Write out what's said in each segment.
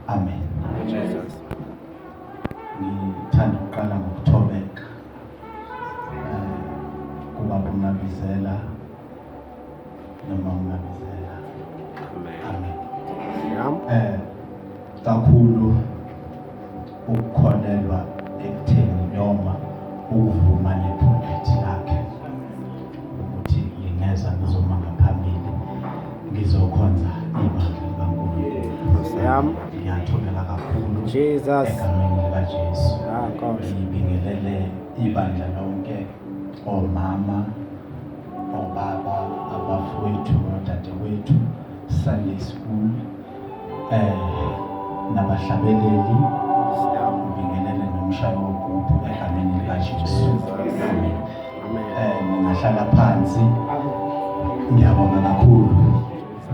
Amen. Jesus. Ngithanda ukuqala ngokuthobeka eh, kuba kumnabizela noma umnabizela. Amen. Amen. Eh kakhulu ukukholelwa ekutheni noma ukuvuma nephuphethi lakhe ukuthi ngingeza ngizoma ngaphambili ngizokhonza ibandla likaNkulunkulu. Ngiyathobela kakhulu egameni likaJesu. Ah, Ngibingelele ibandla lonke omama obaba abafowethu nodadewethu Sunday school eh nabahlabeleli siyabingelele nomshayo wogubhu egameni likaJesu amen eh ningahlala phansi ngiyabonga kakhulu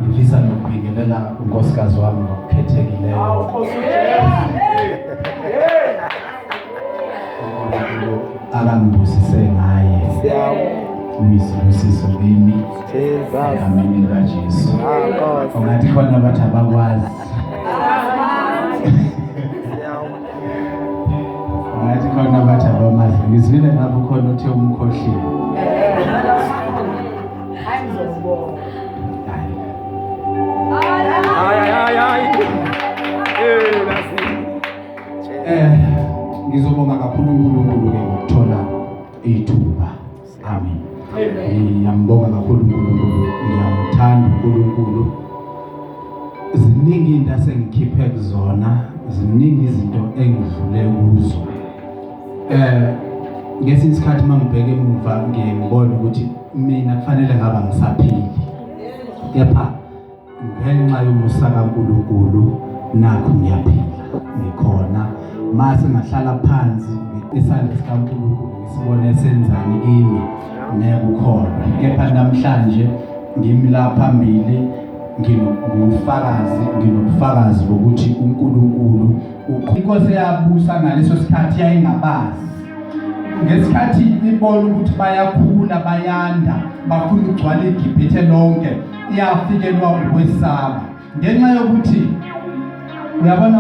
ngifisa nokubingelela unkosikazi wami ngokukhethekileyo abangibusise ngaye uyisibusiso kimi egameni likajesu ungathi khona abathi abakwazi ungathi khona abathi abamazi ngizwile ngapho khona uthe umkhohlile Eh ngizobonga kakhulu uNkulunkulu ke ngokuthola ithuba. Amen. Ngiyambonga kakhulu uNkulunkulu, ngiyamthanda uNkulunkulu. Ziningi into asengikhiphe kuzona, ziningi izinto engidlule kuzo. Eh ngesinye isikhathi mangibheka emuva ngiyembona ukuthi mina kufanele ngaba ngisaphili. Kepha ngenxa yomusa kaNkulunkulu nakho ngiyaphila ngikhona mase ngahlala phansi isandla sikaNkulunkulu ngisibone senzani kimi nekukholwa kepha namhlanje ngimi la phambili nginobufakazi nginobufakazi bokuthi uNkulunkulu inkosi yabusa ngaleso sikhathi yayingabazi ngesikhathi ibona ukuthi bayakhula bayanda bafuna ukugcwala igibhithe lonke iyafikelwa ukwesaba ngenxa yokuthi uyabona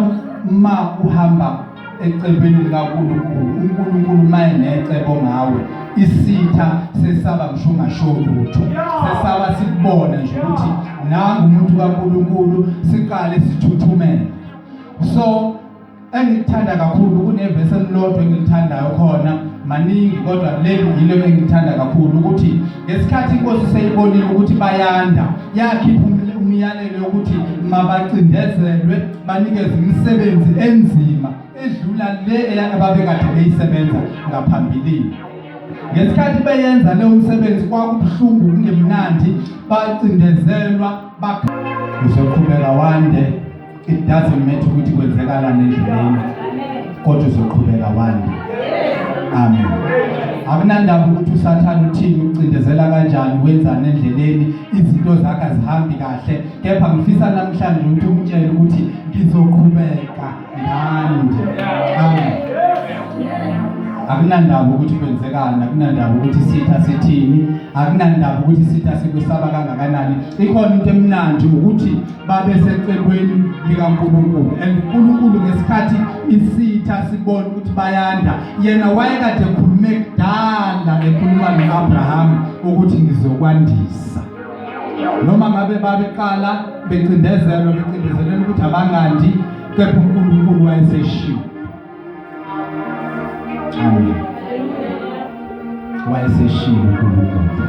uma uhamba ecebeni likaNkulunkulu uNkulunkulu maye necebo ngawe isitha sesaba ngisho ungasho lutho sesaba sikubone nje ukuthi nangu umuntu kaNkulunkulu siqale sithuthumele so engilithanda kakhulu kunevesi elilodwa engilithandayo khona maningi kodwa leli yilo engilithanda kakhulu ukuthi ngesikhathi inkosi seyibonile ukuthi bayanda yakhipha umyalelo yokuthi mabacindezelwe banikeze imisebenzi enzima edlula le ababekade beyisebenza ngaphambilini ngesikhathi beyenza leyo msebenzi kwakubuhlungu kungemnandi bacindezelwa uzoqhubeka wande it doesn't matter ukuthi kwenzekalani endleleni kodwa uzoqhubeka wande amen akunandaba ukuthi usathane uthini ucindezela kanjani wenzani endleleni izinto zakhe azihambi kahle kepha ngifisa namhlanje ukuthi umtshele ukuthi ngizoqhubeka ngande amen akunandaba ukuthi kwenzekani akunandaba ukuthi sitha sithini akunandaba ukuthi sitha sikusaba kangakanani ikhona into emnandi ukuthi babesecelweni likaNkulunkulu and uNkulunkulu ngesikhathi isitha sibona ukuthi bayanda yena wayekade ekhulume kudala ekhuluma noAbraham ukuthi ngizokwandisa noma ngabe babeqala becindezelwa becindezelwa ukuthi abangandi kepha uNkulunkulu wayeseshiwo amen wayeseshiwo uNkulunkulu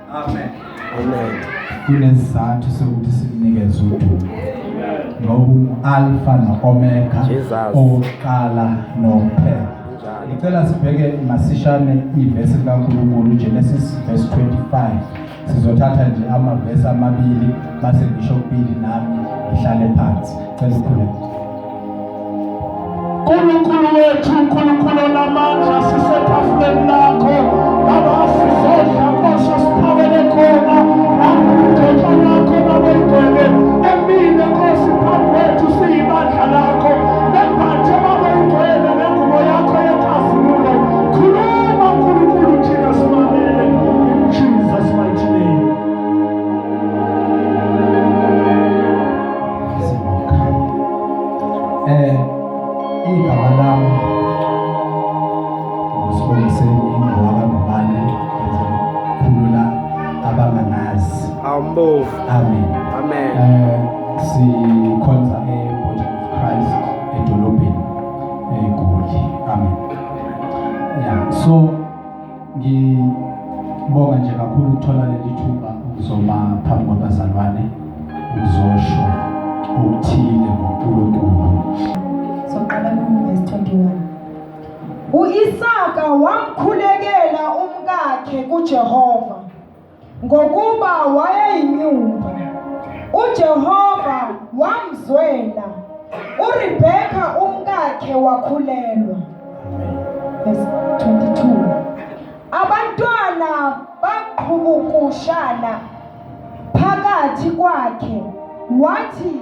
Amen. Amen. Kunesizathu sokuthi sinikeze udumo. Ngobu Alpha no Omega oqala nophela. Ngicela sibheke masishane ivesi kaNkulunkulu Genesis verse 25. Sizothatha nje amavesi amabili base ngisho kubili nami ngihlale phansi. Cela sikhuleke. Nkulunkulu wethu, Nkulunkulu onamandla, sisetafuleni lakho Baba, sizodla Nkosi esiphakele khona nangokuthethwa lakho Baba igcwele emile Nkosi phambi kwethu siyibandla lakho nembathe Baba igcwele nengubo yakho yenkazimulo khuluma Nkulunkulu thina simamele in Jesus mighty name Eh, igama lami uSibongiseni Ngoka Ngubane ngizokhulula abangangazi. Awumbovu. Amen. Amen. Eh, sikhonza eBody of Christ edolobheni eGoli. Amen. Yeah, so Ngibonga nje kakhulu ukuthola leli thuba ukuzoma phambi kwabazalwane uzosho okuthile ngoNkulunkulu. Soqala verse 21. U-Isaka wamkhulekela umkakhe kuJehova Ngokuba wayeyinyumba, uJehova wamzwela. URebheka umkakhe wakhulelwa. Verse 22. Abantwana baqhubukushana phakathi kwakhe wathi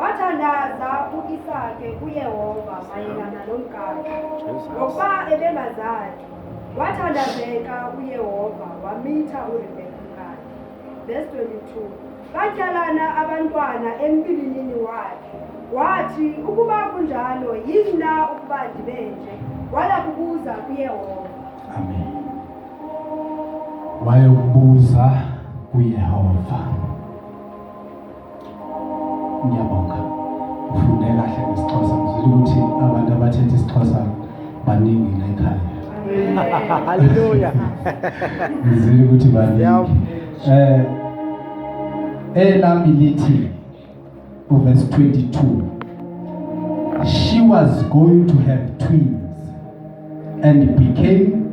Wathandaza u-Isake kuYehova mayelana nomkakhe, ngokuba ebengazali. Wathandazeka uYehova wamitha uRebeka umkakhe. Verse 22. Batyalana abantwana empilinini wakhe. Wathi, ukuba kunjalo, yini na ukuba ndibe nje? Waya kubuza kuYehova. Amen. Waya kubuza kuYehova. Ngiyabonga. Ufunde kahle ngesiXhosa. Ngizwile ukuthi abantu abathetha isiXhosa baningi la ekhaya. Hallelujah. Ngizwile ukuthi baningi. Yebo. Eh elami lithi uverse 22 she was going to have twins and became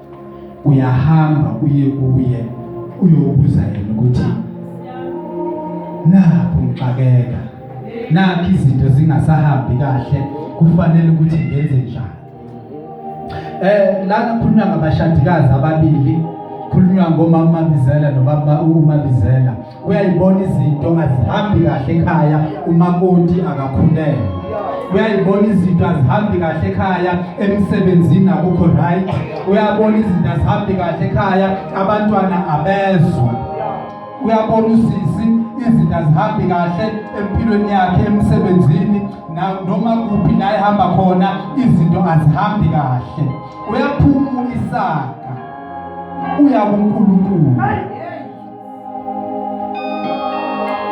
uyahamba uye kuye uyobuza yena ukuthi nakho ngixakeka nakho izinto zingasahambi kahle kufanele ukuthi ngenze njani eh la kukhulunywa ngabashadikazi ababili khulunywa ngomama Mabizela nobaba uMabizela uyayibona izinto azihambi kahle ekhaya umakoti akakhulele uyayibona izinto azihambi kahle ekhaya emsebenzini akukho right uyabona izinto azihambi kahle ekhaya abantwana abezwa uyabona usisi izinto azihambi kahle empilweni yakhe emsebenzini noma kuphi la ehamba khona izinto azihambi kahle uyaphuma isaka uya kuNkulunkulu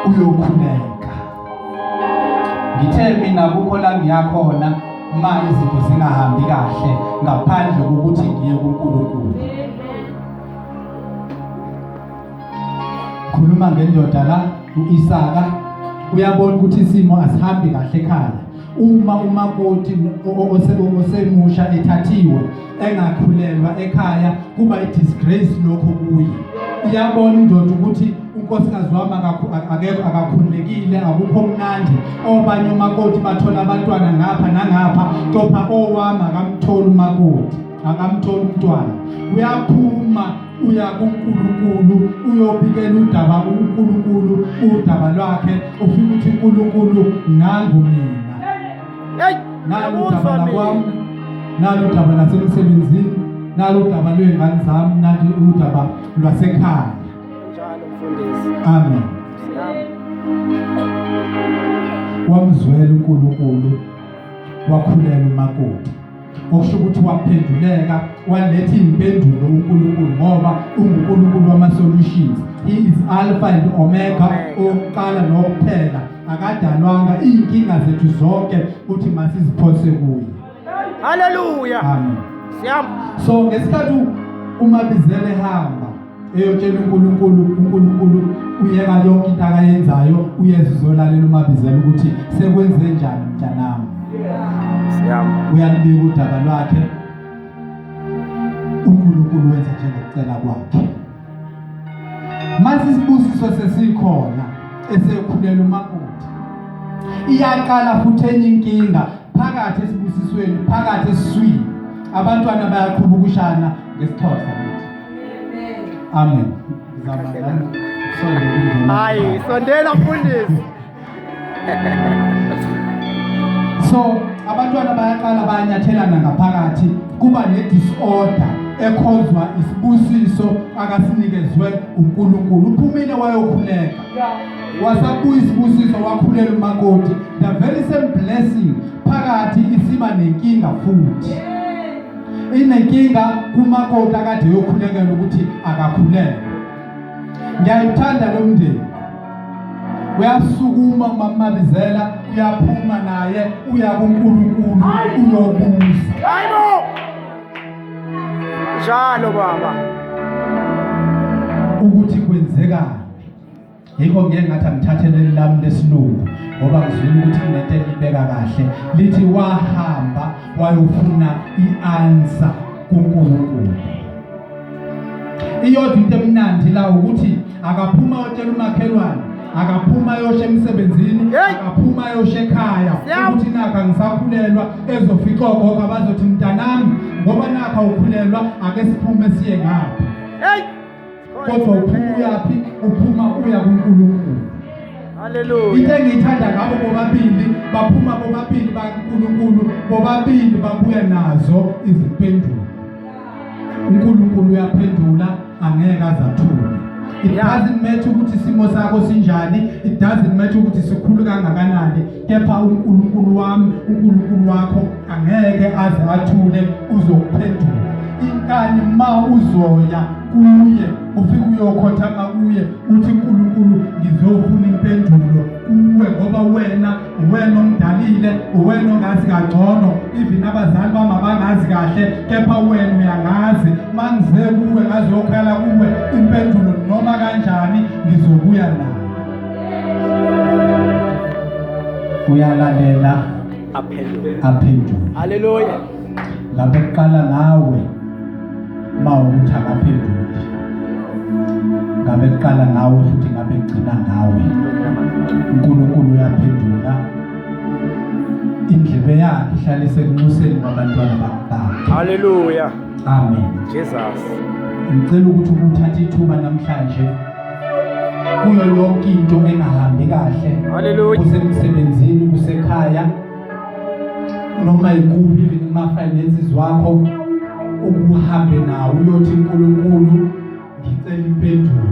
uyokhuleka. Ngithe mina kukho la ngiyakhona uma izinto zingahambi kahle ngaphandle kokuthi ngiye kuNkulunkulu. Khuluma ngendoda la uIsaka uyabona ukuthi isimo asihambi kahle ekhaya. uma umakoti osemusha ethathiwe engakhulelwa ekhaya kuba i-disgrace lokho kuye iyabona indoda ukuthi unkosikazi wami akekho akakhululekile akukho mnandi obanye umakoti bathola abantwana ngapha nangapha kepha owami akamtholi umakoti akamtholi umntwana uyaphuma uya kuNkulunkulu uyobikela udaba uNkulunkulu udaba lwakhe ufike ukuthi uNkulunkulu nangu mina hey nalu udaba lakwami nalu udaba lasemsebenzini nalu udaba lwezingane zami nathi udaba lwasekhaya njalo mfundisi amen wamzwela uNkulunkulu wakhulela umakoti okusho ukuthi waphenduleka waletha iy'mpendulo uNkulunkulu ngoba unguNkulunkulu wama-solutions he is alpha and omega owokuqala nowokuphela akadalwanga iy'nkinga zethu zonke uthi masiziphose kuye haleluya amen so ngesikhathi umabizela ehamba eyotshela uNkulunkulu uNkulunkulu uyeka yonke into akayenzayo uyeza uzolalela umabizela ukuthi sekwenze njani mntanami uyalibika udaba lwakhe uNkulunkulu wenza njengokucela kwakhe mase isibusiso sesikhona esekhulela umakoti iyaqala futhi enye inkinga phakathi esibusisweni phakathi esiswini abantwana bayaqhuba ukushana ngesixhosa Amen. Hayi, sondela mfundisi. So abantwana bayaqala bayanyathelana ngaphakathi kuba ne-disorder ekhozwa isibusiso akasinikezwe uNkulunkulu uphumile wayokhuleka wasabuya isibusiso wakhulela umakoti the very same blessing phakathi isiba nenkinga futhi yeah. inenkinga kumakoti akade yokhulekela ukuthi akakhulele ngiyayithanda lo mndeni uyasukuma mamabizela uyaphuma naye uya kuNkulunkulu uyobuza hayibo njalo baba ukuthi kwenzekani yikho ngike ngathi angithathe leli lami lesilungu ngoba ngizwile ukuthi kunento elibeka kahle lithi wahamba wayofuna i-ansa kunkulunkulu iyodwa into emnandi la ukuthi akaphuma otshela umakhelwane akaphuma ayoshe emsebenzini akaphuma ayoshe ekhaya ukuthi nakha ngisakhulelwa ezofica ogogo abazothi mntanami ngoba nakha ukhulelwa ake siphume siye ngapha kodwa uphuma uyaphi uphuma uya kuNkulunkulu Hallelujah. Into engiyithanda ngabo bobabili baphuma bobabili baNkulunkulu bobabili babuya nazo izimpendulo. uNkulunkulu uyaphendula angeke azathule it doesn't matter ukuthi isimo sakho sinjani it doesn't matter ukuthi sikhulu kangakanani kepha uNkulunkulu wami uNkulunkulu wakho angeke aze athule uzokuphendula inkani ma uzoya kuye ufike uyokhothama kuye uthi uNkulunkulu ngizofuna impendulo kuwe ngoba wena uwena omdalile uwena ongazi kangcono even abazali bami abangazi kahle kepha wena uyangazi mangize kuwe ngazokhala kuwe impendulo noma kanjani ngizobuya nayo uyalandela aphendule aphendule haleluya lapho kuqala ngawe mawukuthi akaphenduli ngabe kuqala ngawe futhi ngabe kugcina ngawe uNkulunkulu uyaphendula indlebe yakhe ihlale isekunxuseni kwabantwana bakhe haleluya amen jesus ngicela ukuthi ukuthatha ithuba namhlanje kuyo yonke into engahambi kahle kusemsebenzini kusekhaya noma yikuphi kuma-finances wakho ukuhambe nawo uyothi nkulunkulu ngicela impendulo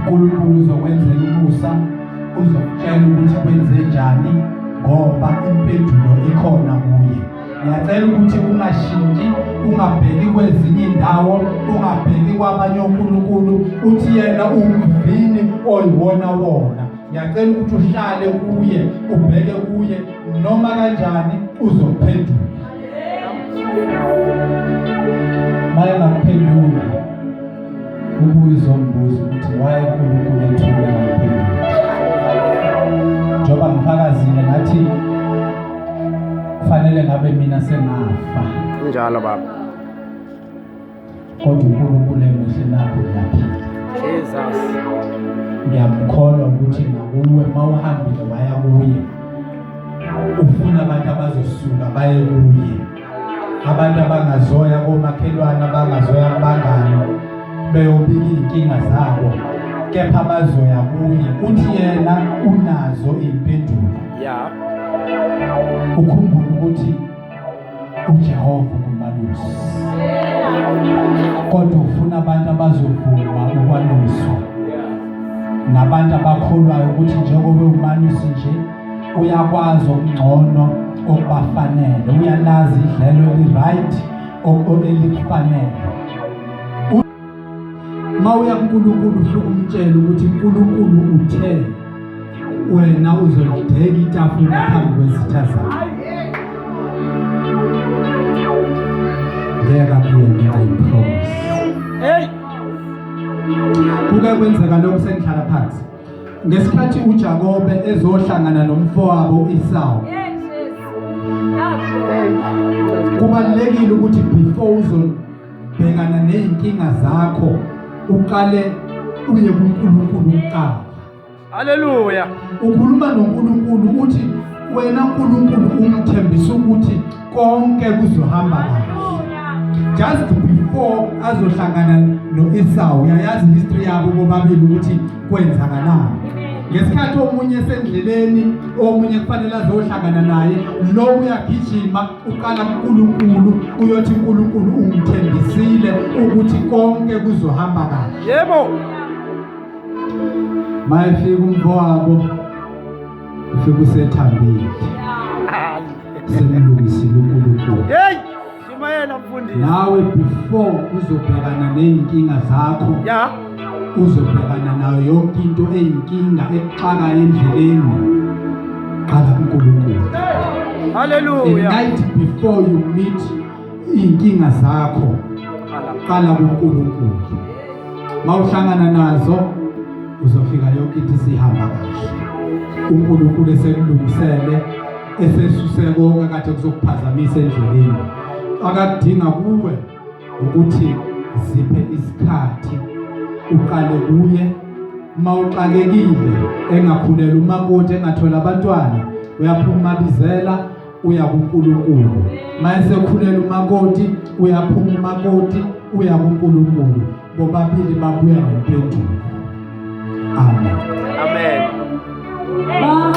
nkulunkulu uzokwenzela umusa uzokutshela ukuthi kwenze njani ngoba impendulo ikhona kuye ngiyacela ukuthi ungashintshi ungabheki kwezinye indawo ungabheki kwabanye onkulunkulu uthi yena umvini oyiwona wona ngiyacela ukuthi uhlale kuye ubheke kuye noma kanjani uzophendula maye ngakuphendula ubuye uzongibuza ukuthi why uNkulunkulu ethula ngaphendula njengoba ngifakazile ngathi kufanele ngabe mina sengafa njalo baba kodwa uNkulunkulu emuhle nakho lapha Jesus ngiyamkholwa ukuthi nakuwe mawuhambile waya kuye ufuna abantu abazosuka baye kuye abantu abangazoya komakhelwane abangazoya kubangani beyobika iy'nkinga zabo kepha bazoya kuye uthi yena unazo iy'mpendulo ya ukhumbule ukuthi ujehova ungumalusi kodwa ufuna abantu abazovuma ukwaluswa nabantu abakholwayo ukuthi njengoba umalusi nje uyakwazi okungcono okubafanele uyalazi idlelo eli-right elikufanele uma uya kunkulunkulu usuke umtshela ukuthi unkulunkulu uthe wena uzolideka itafula phambi kwezitha zakho ngeka kuyena ayipromise kuke kwenzeka lokhu sengihlala phansi ngesikhathi uJakobe ezohlangana nomfowabo uIsawu kubalekile ukuthi before uzobhekana nezinkinga zakho uqale uye kuNkulunkulu uqala haleluya ukhuluma noNkulunkulu uthi wena uNkulunkulu umthembisa ukuthi konke kuzohamba kahle just before azohlangana no-Esau uyayazi history yabo bobabili ukuthi kwenzakalani ngesikhathi omunye esendleleni omunye kufanele azohlangana naye lo uyagijima uqala kuNkulunkulu uyothi uNkulunkulu ungithembisile ukuthi konke kuzohamba kahle yebo mayefika umfowabo ufike usethambile semlungisile uNkulunkulu hey shimayela mfundisi nawe before uzobhekana nezinkinga zakho yeah uzobhekana nayo yonke into eyinkinga ekuxaka endleleni qala kuNkulunkulu haleluya and night before you meet Iy'nkinga zakho qala kuNkulunkulu. Mawuhlangana nazo uzofika yonke into sihamba kahle. UNkulunkulu esekulungisele esesuse konke kade kuzokuphazamisa endleleni. Akakudinga kuwe ukuthi ziphe isikhathi uqale kuye mawuxakekile engakhulelwa umakoti engathola abantwana uyaphuma bizela uya kuNkulunkulu mayesekhulela umakoti uyaphuma umakoti uya kuNkulunkulu bobabili babuya ngempendulo amen amen